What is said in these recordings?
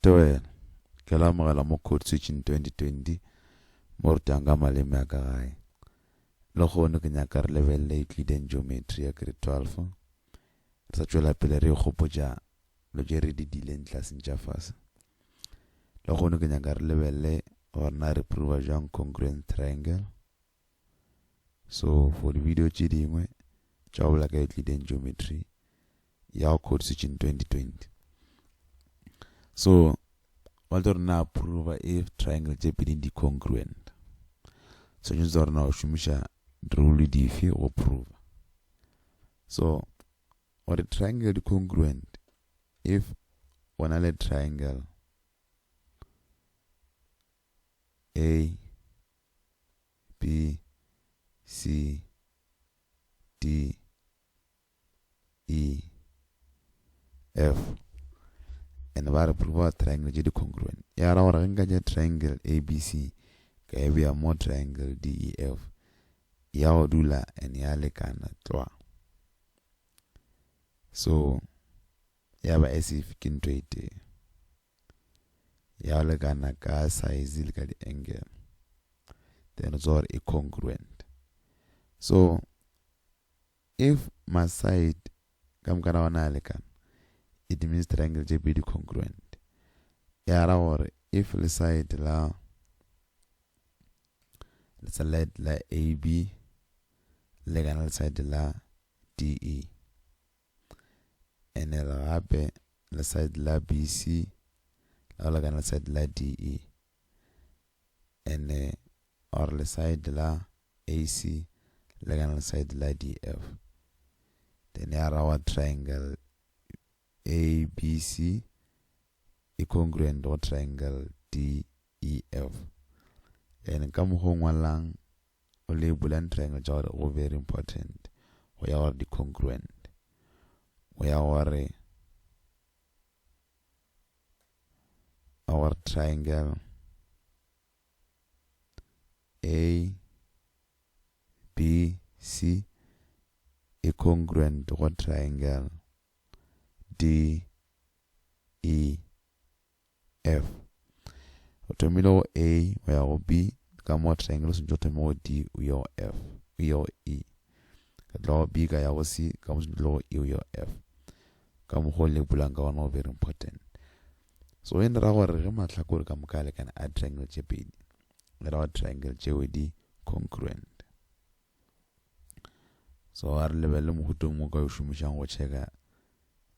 Tebela, Ke la amogela mo Code Switching 2020 mo rutang ka maleme a ka gae. Lehono ke nyaka re lebelele Euclidean Geometry ya Grade 12. Re sa tšwela pele re ikgopotša lo tše re di dileng tlaseng tša fase. Lehono ke nyaka re lebelele gore na re prover jwang congruence triangle. So for di video tše dingwe tša go bola ka Euclidean geometry ya go code switching 2020. So ba tlo rena approva if triangle tše pedi di congruent. So tšhontse tsa rena go šomiša rule dife go prova. So gore triangle di congruent if o na le triangle A B, C, D, E, F. And ba re prove triangle tše di congruent. Ya ra gore ge nka tša triangle ABC ka e beya mo triangle DEF ya go dula and ya lekana tlwa. So Ya ba as if ke ntho e tee. Ya lekana ka size le ka di-angle. Then tswa gore e congruent. So, if ma-side ka mokana ona a lekana, it means triangle tše pedi congruent. Ya ra gore if le side la le side la AB lekana le side la DE. and e re gape le side la BC la go lekana side la DE and or le side la AC lekana le side la DF then ya ra wa triangle ABC e congruent go triangle DEF and ka mokgwa o ngwalang o le bulang triangle tša gore go very important go ya gore di congruent go ya gore a gore triangle a b c e congruent go triangle d e F. O thomile go A o ya go B ka mo triangle o swantšwe o thome go D o ye go F o ye go E ka tla go B ka ya go C ka mo swantšwe go E o ye go F ka mokgwa o le bulang ka gona go very important so e ra gore ge mahlakore ka moka a lekane a triangle tše pedi e ra gore triangle tšeo di congruent so a re lebelele mohutong mo ka o šomišang go checka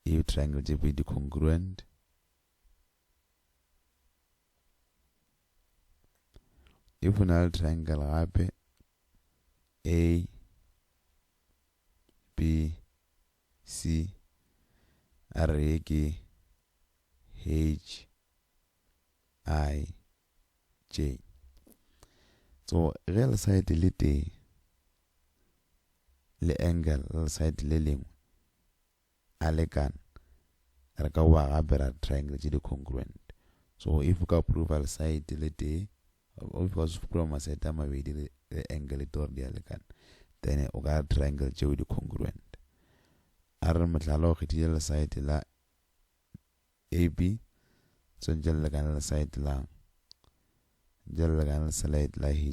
if triangle tše pedi di congruent if o na le triangle gape a b c a re ye ke h i j so ge le side le tee le angle le side le lengwe a lekana re ka boa gape ra triangle tše di congruent so if o ka prova side le tee o ka se prova maside a mabedi le angle tee gore di a lekana then o ka triangle tšeo di congruent a re mohlala o kgethile le side la ab swantse le lekane le side la jalo lekane le side la hi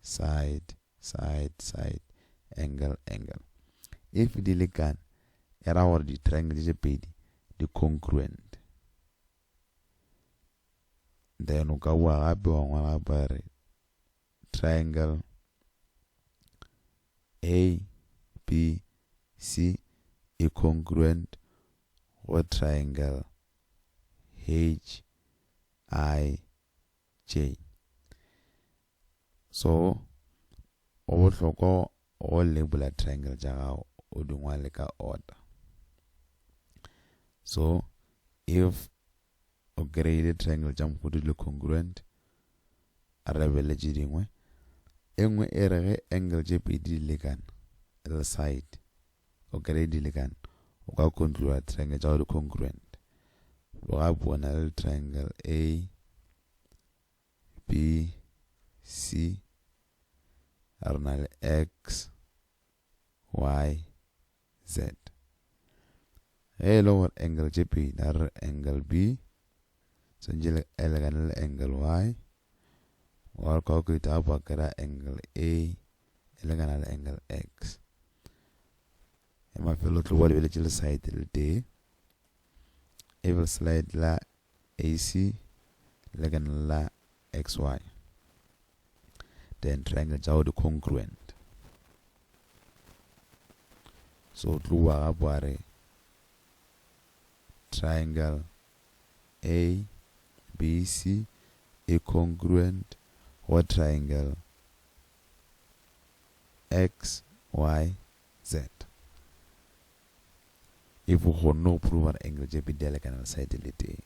side, side, side, angle, angle. If di lekane, e ra gore di-triangle tše pedi di congruent. Then o ka bua gape wa ngwala gape wa re triangle A, B, C e congruent go triangle H, I, tše. So go bohlokwa go labela triangle tša gago o di ngwale ka order. So if o kry-ile triangle tša mohuta di le congruent re be le tše dingwe e nngwe e re ge angle tše pedi di lekana le side O kere e dilekan, o ka kontlola triangle tša go di congruent. Loga po na le triangle A, B, C, a re na le X, Y, Z. Ge e le gore angle tše pedi, a re angle B, swantšhe le e lekane le angle y wa calculator gape wa kry-a angle a e lekana le angle x ya mafelo tlo ba lebeletše le side le tee evil slide la ac lekana la xy then triangle tša go di congruent so tlo wa gape wa re triangle A, B, C e congruent wa triangle XYZ. If o kgonne go prover gore angle tše pedi di a lekana le side e le tee,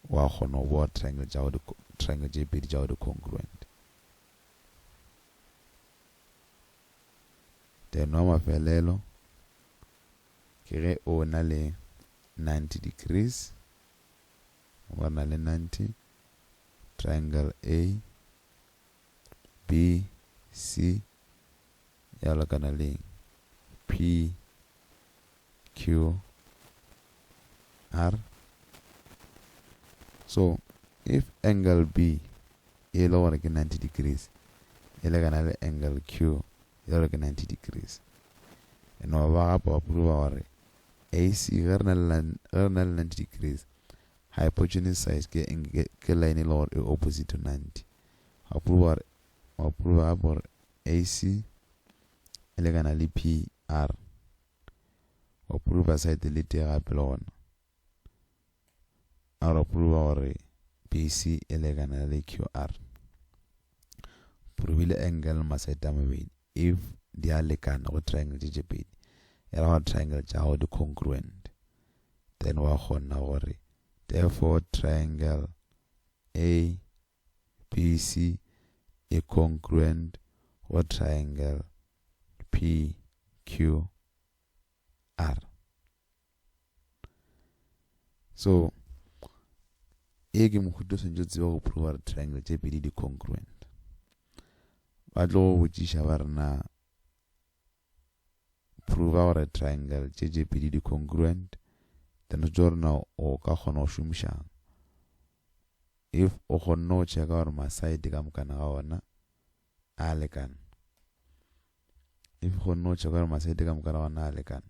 wa kgona go boa triangle tša go triangle tše pedi tša go di congruent. Then wa mafelelo Ke ge o na le ninety degrees, o ba na le ninety, triangle A, B, C, ya lekana le eng? P, Q, R. So, if angle B e le gore ke ninety degrees, e lekana le angle Q, e le gore ke 90 degrees. E no ba gape ba prova gore AC ge re na le ge re na le 90 degrees hypotenuse side ke ke line e le gore e opposite to 90. Ba prova gore ba prova gape gore AC e lekana le PR. Ba prova side le tee gape le gona. A re pruba gore PC e lekana le QR. Purubile angle le masete a mabedi. If di a lekana go triangle tše tše pedi, e ra gore triangle tša gago di congruent. Then wa kgona gore therefore triangle ABC e congruent go triangle PQR. so e ke mohuto o swantse o tseba go prova gore triangle tše pedi di congruent ba tlo go botšiša ba rena prova gore triangle tše tše pedi di congruent then re tšo rena o ka kgona go šomišang if o kgonne go checka gore maside ka mokana ga ona a lekana if o kgonne go checka gore maside ka mokana ga ona a lekana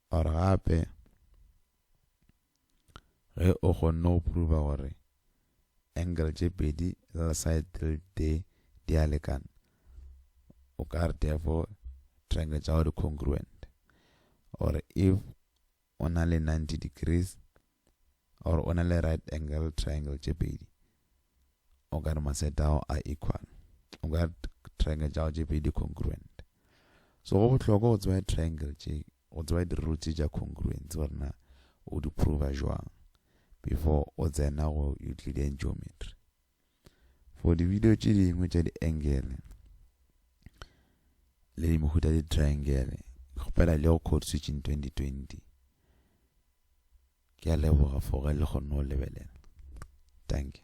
Or gape ge o kgonne go prover gore angle tše pedi le side tse tee di a lekana, o ka re therefore triangle tša go di congruent. Or if o na le 90 degrees or o na le right angle triangle tše pedi, o ka re maseta ao a equal o ka re triangle tša go tše pedi di congruent so go bohlokwa go tseba triangle tše go tseba di-roots tša congruence gore na o di prova jwang before o tsena go euclidean geometry for di-video tše dingwe tša di-angle le dimehuta di-triangle kgopela le go code switching 2020 Ke a leboga for ge le kgonne go lebelela. Dankie.